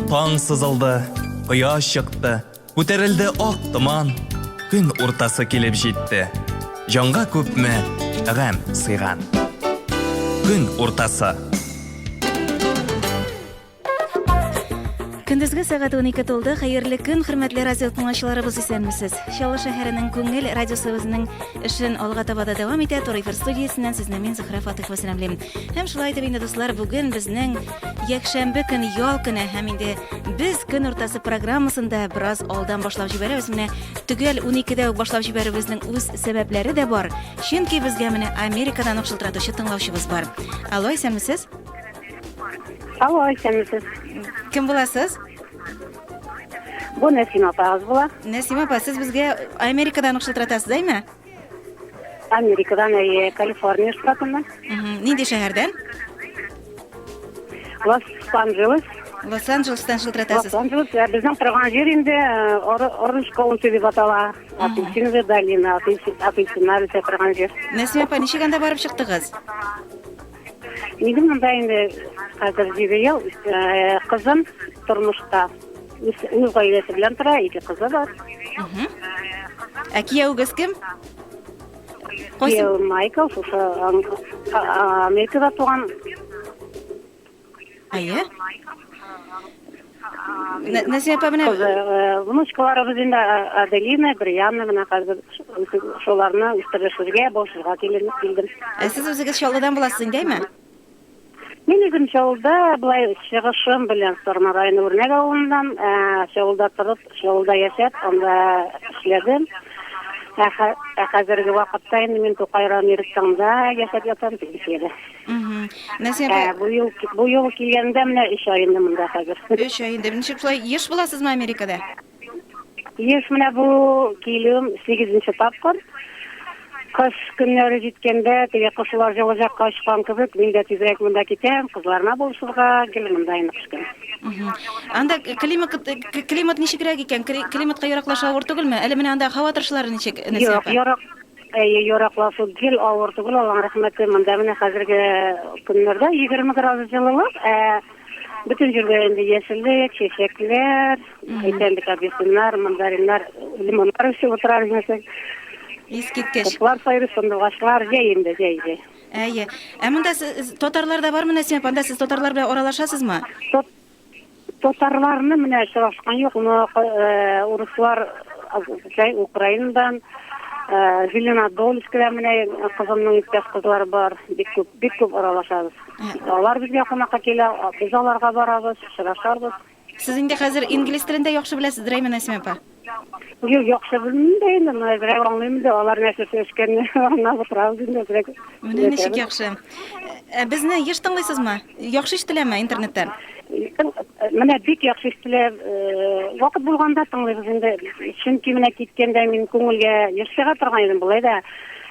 Таң сызылды, кояш чыкты, күтәрелде ак томан, көн уртасы килеп җитте. Җанга күпме гәм сыйган. Көн уртасы. Көндезге сәгать 12 тулды. Хәерле көн, хөрмәтле радио тыңлаучыларыбыз, исәнмесез. Чаллы шәһәренең күңел радиосы үзенең эшен алга таба да дәвам итә. Туры эфир студиясеннән сезне мин Зөһрә Фатыйхова сәламлим. Һәм шулай итеп инде дуслар, бүген безнең якшәмбе көн ял көне һәм инде без көн уртасы программасында бераз алдан башлап җибәрәбез. Менә төгәл 12-дә үк башлап җибәрүебезнең үз сәбәпләре дә бар. Чөнки безгә менә Америкадан ук шылтыратучы тыңлаучыбыз бар. Алло, исәнмесез. Алло, исәнмесез. Кем буласыз? Бу Нәсим апагыз була. Нәсим апа, сез безгә Америкадан ук шылтыратасыз, әйме? Америкадан, әйе, Калифорния штатыннан. Нинди шәһәрдән? Лос-Анджелес. Лос-Анджелестан шылтыратасыз. Лос-Анджелес, ә безнең торган җир инде Оранж э, Каунти дип атала. Апельсиновая долина, апельсиннар үсә торган җир. Нәсим апа, ничек анда барып чыктыгыз? Нигә монда инде хәзер җиде ел э, кызым тормышта. Үз үз гаиләсе белән тора, ике кызы бар. Ә кияүгез кем? Кайсы? Кияү Майкл, шушы ам- а- а- Америкада туган. Әйе. Нәзия апа менә внучкаларыбыз инде Аделина, Брианна менә хәзер шуларны үстерешергә, башырга килдем. Ә сез үзегез Чаллыдан буласыз инде, әйме? Мин үзем Чаллыда, болай чыгышым белән Сарман районы Үрнәк авылыннан, Чаллыда торып, Чаллыда яшәп, анда эшләдем. Ә хәзерге вакытта инде мин Тукай районы Иректаңда яшәп ятам, пенсиядә. Мгм. Назия Ә, апа, бу ел, бу ел килгәндә менә өч ай инде монда хәзер. өч ай инде. Ничек шулай еш буласызмы Америкада? Еш менә бу килүем сигезенче тапкыр. Кыш көннәре җиткәндә, теге кошылар җылы җакка очкан кебек, мин дә тизрәк монда китәм, кызларыма булышырга, гел монда инде кыш көне. Мгм. Анда климат, к- климат ничегрәк икән? Кли- Климатка яраклашу авыр түгелме? Әле менә анда һава торышлары ничек, Назия Юк, апа? ярак, Әйе, яраклашу гел авыр түгел, Аллаһ рәхмәте, монда менә хәзерге көннәрдә 20 градус җылылык, ә бөтен җирдә инде яшеллек, чәчәкләр, әйтәм бит, апельсиннар, мандариннар, лимоннар үсеп утыра белмәсәң. Искиткеч. Кышлар сайрый, сандугачлар, җәй инде, җәй, җәй. Әйе. Ә монда татарлар да бармы, Нәсимә апа? Анда сез татарлар белән аралашасызмы? Татарларны менә очрашкан юк, но урыслар җай Украинадан, Зеленодольскидан менә кызымның иптәш кызлары бар, бик күп, бик күп аралашабыз. Алар безгә кунакка килә, без аларга барабыз, очрашабыз. Сез инде хәзер инглиз телен дә яхшы беләсездер, әйме, Нәсимә апа? Юк, яхшы белмим дә инде, менә берәү аңлыйм инде, алар нәрсәсе эшкәнне аңлап утырабыз инде берәү. Менә ничек яхшы. Ә безне еш тыңлыйсызмы? Яхшы ишетеләме интернеттан? Менә бик яхшы ишетелә. Вакыт булганда тыңлыйбыз инде. Чөнки менә киткәндә мин күңелгә еш чыга торган идем, болай да.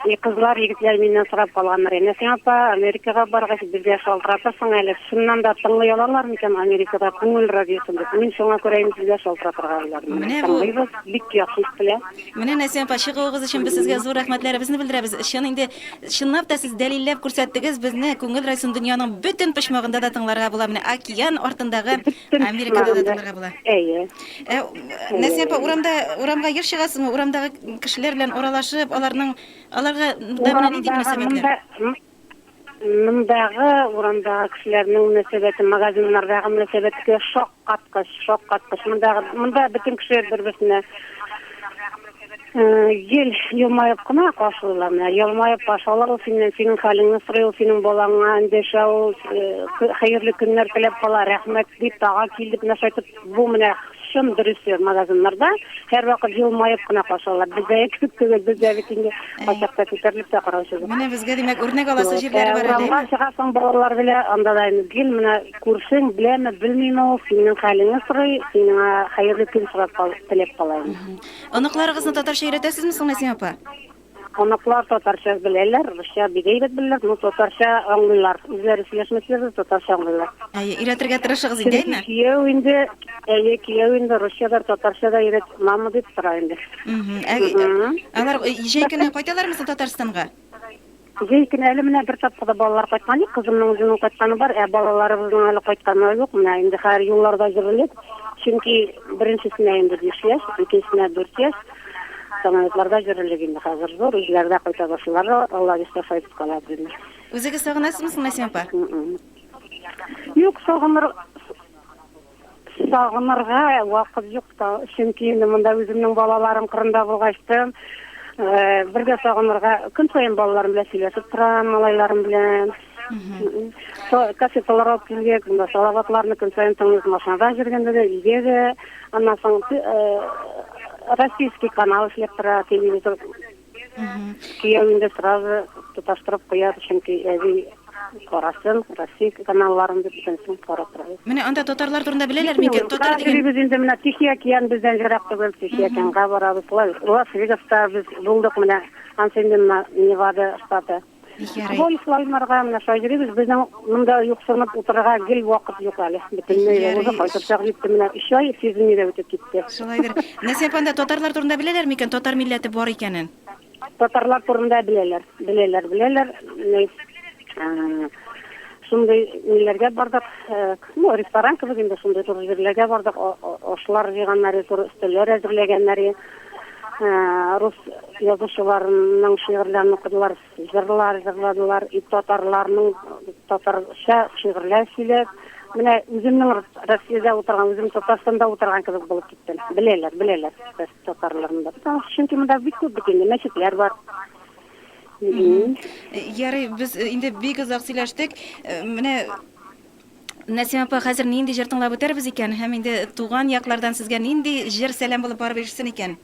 И кызлар, егетләр миннән сорап калганнар, Әнә син, апа, Америкага баргач, безгә шалтыратырсың әле, чыннан да тыңлый алалар микән Америкада күңел радиосын дип. Мин шуңа күрә инде сезгә шалтыратырга уйладым. Менә Менә бу. тыңлыйбыз, бик яхшы ишетелә. Менә, Нәсим апа, чыгуыгыз өчен без сезгә зур рәхмәтләребезне белдерәбез. Чын инде, чынлап та сез дәлилләп күрсәттегез, безне Күңел радиосын дөньяның бөтен почмагында да тыңларга була, менә океан артындагы Бөтен Америкада да почмагында. тыңларга була. Әйе. Ә нәрсә апа, урамда, урамга еш чыгасызмы? Урамдагы кешеләр белән аралашып, аларның, аларга да менә нинди мөнәсәбәтләр? Мондагы урамдагы кешеләрнең мөнәсәбәте, магазиннардагы мөнәсәбәткә шаккаткыч, шаккаткыч. Мондагы, монда бөтен кеше бер-берсенә гел елмаеп кына каршылыйлар. Менә елмаеп каршы ала ул синнән, синең хәлеңне сорый ул, синең балаңа эндәшә ул, хәерле көннәр теләп кала, рәхмәт дип, тагы кил дип, менә шулай итеп, Бу менә чын дөресе, магазиннарда һәрвакыт елмаеп кына каршы алалар. Бездәге кебек түгел, бездә бит инде кайчакта күтәрелеп тә караучыбыз. Менә безгә, димәк, үрнәк аласы җирләре бар әле, Урамга әйеме? чыгасың балалар белән, анда да инде гел менә күршең беләме, белмиме ул, синең хәлеңне сорый, син аңа хәерле көн сорап кал, теләп кала инде. Оныкларыгызны татарча өйрәтәсезме соң, Нәсимә апа? Кунаклар татарча беләләр, русча бик әйбәт беләләр, но татарча аңлыйлар. Үзләре сөйләшмәсәләр дә татарча аңлыйлар. Әйе, өйрәтергә тырышыгыз инде, Чөнки әйме? кияү инде, әйе, кияү инде русча да, татарча да өйрәт, мама дип тора инде. Мгм. Ә, Мгм. Алар э, җәй көне кайталармы соң Татарстанга? Җәй көне әле менә бер тапкыр да балалар кайткан юк, кызымның үзенең кайтканы бар, ә балаларыбызның әле кайтканы юк. Менә инде хәзер юлларда җөрелеп, чөнки беренчесенә инде биш яшь, икенчесенә дүрт яшь. Самолетларда йөрерлек инде хәзер зур, үзләре дә кайта башлыйлар, Алла бирсә саеп калар димә. Үзегез сагынасызмы соң Мәсим апа? Юк, сагыныр сагынырга вакыт юк та, чөнки инде монда үземнең балаларым кырында булгачтын, бер дә сагынырга, көн саен балаларым белән сөйләшеп торам, малайларым белән. Кассеталар алып килгәк, монда салаватларны көн саен тыңлыйк машинада йөргәндә дә, өйдә дә. Аннан соң российский канал эшләп тора, телевизор. Кияү инде сразу тоташтырып куя, чөнки әби карасын, Россия каналларын дип бөтенесен карап тора. Менә анда татарлар турында беләләр микән? Татар дигән. Йөрибез инде менә Тихий океан бездән ерак түгел, Тихий океанга барабыз. Лас-Вегаста без булдык менә, ансы инде Невада штаты. Бик ярый. Бу ислаймнарга менә шаһидебез, безнең монда юксынып утырырга гел вакыт юк әле. Бөтенләй дә узып кайтыр чак җитте, менә өч ай сизелми дә үтеп китте. Шулайдыр. Нәсыйп анда татарлар турында беләләр микән, татар милләте бар икәнен? Татарлар турында беләләр, беләләр, беләләр. Шундый ниләргә бардык, ну, ресторан кебек инде, шундый зур җирләргә бардык, ашлар җыйганнар, зур өстәлләр әзерләгәннәр. рус язучыларының шигырьләрен укыдылар, җырлар җырладылар, и татарларның татарча шигырьләр сөйләп, менә үземнең Россиядә утырган, үзем Татарстанда утырган кебек булып киттем. Беләләр, беләләр татарларны да. Потому что чөнки монда бик күп бит инде мәчетләр бар. Ярый, без инде бик озак сөйләштек. Менә Нәсимә апа, хәзер нинди җыр тыңлап үтәрбез икән? Һәм инде туган яклардан сезгә нинди җыр сәлам булып барып ирешсен икән?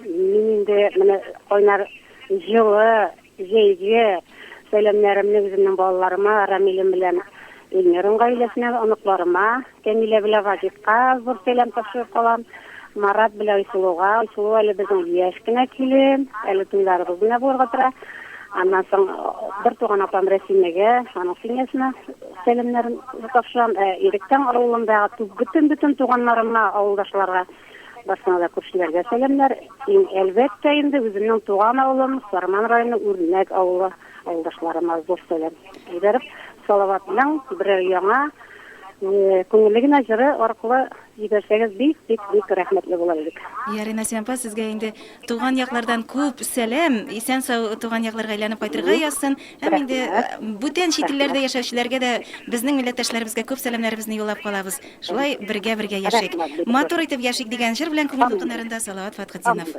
Мин инде менә кайнар җылы җәйге сәламнәремне үземнең балаларыма, Рамилем белән Эльмирның гаиләсенә, оныкларыма, Камилә белән Вагитка зур сәлам тапшырып калам. Марат белән Айсылуга. Айсылу әле безнең яшь кенә килен, әле туйларыбыз гына булырга тора. Аннан соң бер туган апам Рәсимәгә, аның семьясына сәламнәрен тапшырам. Ә Иректән авылындагы бөтен бөтен туганнарыма, авылдашларга, барсына да күршеләргә сәламнәр. Иң әлбәттә инде үземнең туган авылым, Сарман районы Үрнәк авылы. Авылдашларыма зур сәлам җибәреп, Салаватның берәр яңа күңелле генә җыры аркылы җибәрсәгез, бик-бик-бик рәхмәтле булыр идек. Йә, Ринасия апа, сезгә инде туган яклардан күп сәлам, исән-сау туган якларга әйләнеп кайтырга язсын. Һәм инде бүтән чит илләрдә яшәүчеләргә дә безнең милләттәшләребезгә күп сәламнәребезне юллап калабыз. Шулай бергә-бергә яшик. Матур итеп яшик дигән җыр белән күңел дулкыннарында Салават Фатхетдинов.